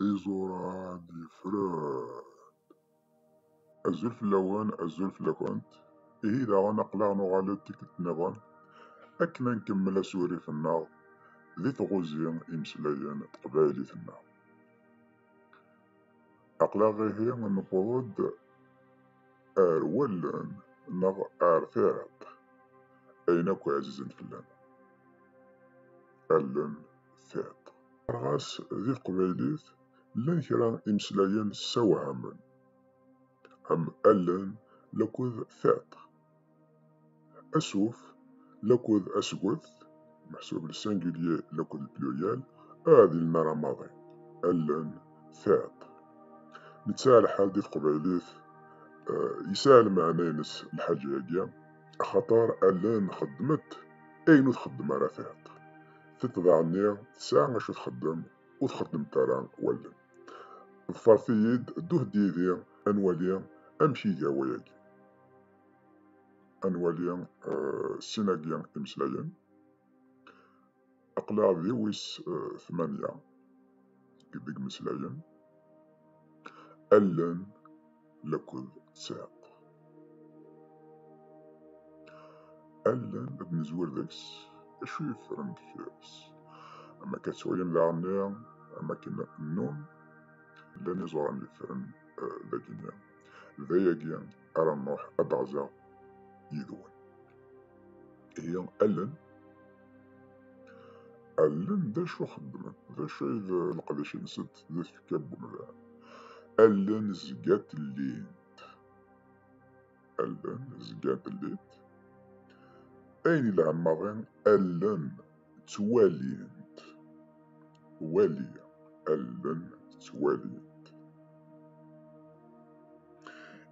Iẓuran yefren. Azul fell-awen, azul fell-akent. Ihi daɣen aql-aɣ nuɣal-d tikkelt niḍen akken ad nkemmel asurif-nneɣ di tɣuzi imeslayen teqbaylit-nneɣ. Aql-aɣ ihi newweḍ-d ar wallen neɣ ar tiɛiḍt ayen akk ɛzizen fell-aneɣ. allen tiṭ. Ɣas di teqbaylit llan kra imeslayen ssawhamen am allen lakud tiṭ, asuf lakud asget meḥsub le singulier lakud le pluriel ah di lmara maḍi allen tiṭ. Netta lḥal di teqbaylit yesɛa lmeɛna-ines lḥaǧa-agi. axaṭer allen xeddment ayen ur txeddem ara tiṭ, tiṭ daɣenni tesɛa acu txeddem ur txeddem-t ara wallen. Ḍfeṛt-iyi-d, ddut-d yid-i ad nwali amek iga wayagi. Ad nwali sin-agi imeslayen. aqlaɣ di wis eh, tmanya deg meslayen allen lakud tsiq allen ad nezwir deg-s acu yeffren deffir-s am akka ttwalin daɣenni am akken nnun llan iẓuran yeffren eh, dagi-nni d ayagi ara nruḥ ad d-ɣzeɣ yid-wen ihi allen Allen d acu xeddment, d acu ay d leqdic-nsent di tfekka n umdan. Allen zgant llint. Allen zgant llint. Ayen yelhan maḍi, allen ttwalint. Wali, allen ttwalint.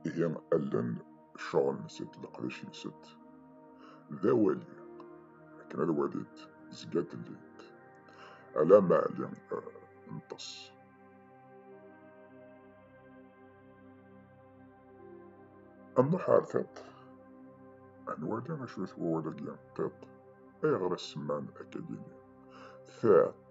Ihi allen ccuɣ-nsent d leqdic-nsent. D awali, akken ad walint, zgant llint. Ala ma ɛli nṭes. Ad nruḥ ar tiṭ, ad nwali acu d wawal-agi tiṭ, ayɣer i semman akagini tiṭ.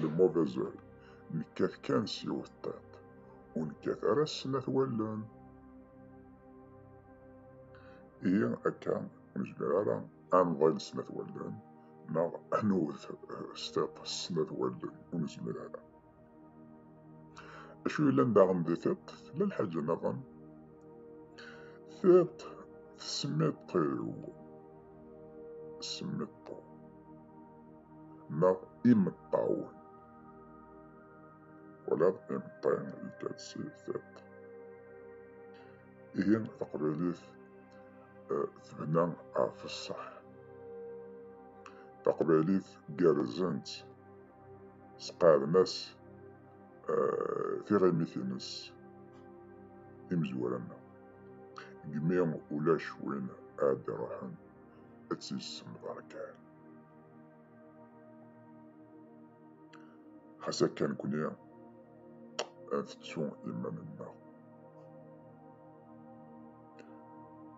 Lemmuḍ azal, nekkat kan s yiwet ṭiṭ, ur nekkat ara s snat wallen. Ihi akka ur nezmir ara ad nḍil s snat wallen neɣ ad nwet s tiṭ s snat wallen, ur nezmir ara. Acu yellan daɣen di tiṭ? Tella lḥaǧa nniḍen? Tiṭ tesmiṭ-iw, smiṭ-iw, neɣ imeṭṭawen. Wala imeṭṭi yekka-d si tiṭ. Ihi taqbaylit eh, tebna ɣef ṣṣeḥ. Taqbaylit gerrzent. sqaɛden-as eh, tiɣimit-nnes imezwura-nni. Gmi ulac win ad d-iruḥen ad tt-yessemḍer kan. Xas akka nekkni ad tettu iman-nneɣ.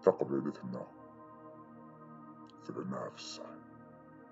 Taqbaylit-nneɣ tebna ɣef ṣṣeḥ.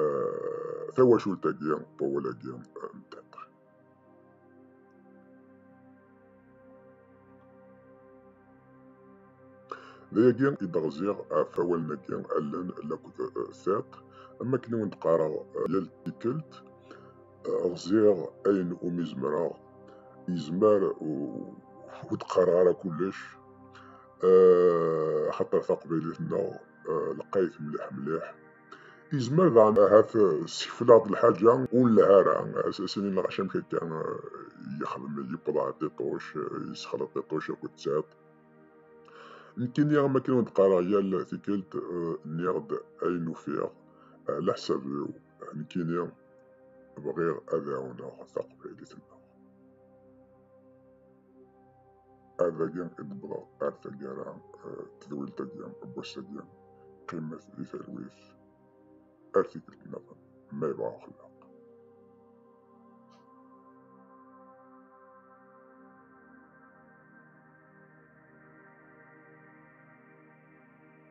eh, tawacult-agi n wawal-agi n tiṭ. D ayagi i d-ɣziɣ ɣef awalen-agi allen laked eh, tiṭ, am akken i wen-d-qqareɣ eh, yal tikkelt, ɣziɣ ayen umi zemreɣ, yezmer ur d-qqareɣ ara kullec, axaṭer taqbaylit-nneɣ lqayet mliḥ mliḥ. Izmer daɣen ahat ssekfel-aɣ-d lḥaǧa ur nlehha ara as-inin ɣac amek akka yexdem yewweḍ ɣer tiṭuc yessexleḍ tiṭuc akked tiṭ nekkini am akken ur d-qqareɣ yal tikkelt nniɣ-d ayen ufiɣ ɛla leḥsab-iw nekkini bɣiɣ ad ɛawneɣ taqbaylit-nneɣ. ad agi i d-wwḍeɣ ar taggara eh, tedwilt-agi n wass-agi qqimet di talwit ar tikkelt nniḍen ma yebɣa uxellaq